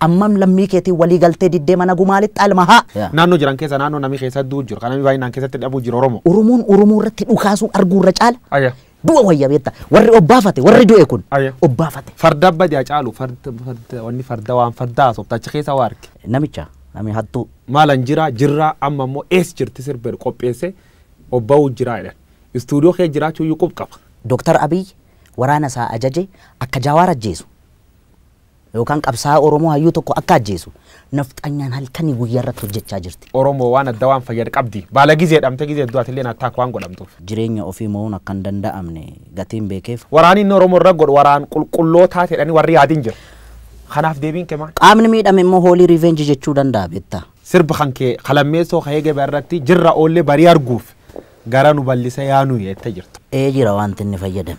Ammam lammii keetiin walii galtee diddee mana gumaa lixxaa ilma haa. Yeah. Naannoo jiran keessa naannoo namni keessa du'u jiru. Kan namni baay'inaan keessatti dhabu jiru Oromoo. Oromoon Oromoo irratti dhukaasuu arguu irra caala Ayya. du'a wayya beekta. Warri obbaafate warri du'e kun Ayya. obbaafate. Farda abba jaa caalu farda farda wanni farda waan farda haasofta achi keessa waa arge. Namicha nami hattuu. Maalan jira jirraa amma immoo ees jirti sirbeedha qopheesse obba'uu jiraa jedhan. Istuudiyoo kee jiraachuu iyyuu qub qaba. Dooktar Abiy waraana isaa ajaje akka Jawaar ajjeesu. Yookaan qabsaa'aa Oromoo hayyuu tokko akka ajjeesu nafxanyaan halkanii guyyaa irratti hojjechaa jirti. Oromoo waan adda waan fayyad qabdi. Baala gizee dhamte gizee du'at illeen attack waan godhamtuuf. Jireenya ofii mo'uun akka hin danda'amne gatiin beekeef. Waraanii inni Oromoo irra godhu waraan qulqullootaa jedhanii warri yaadin jira. Kanaaf deebiin kee maal? Qaamni miidhame immoo hoolii revenge jechuu danda'a beekta. Sirba kan kee kalammeessoo ka'ee gabaa irratti jirra oollee barii arguuf gara nu bal'isa yaanu jette jirta. Ee jira wanti inni fayyadame.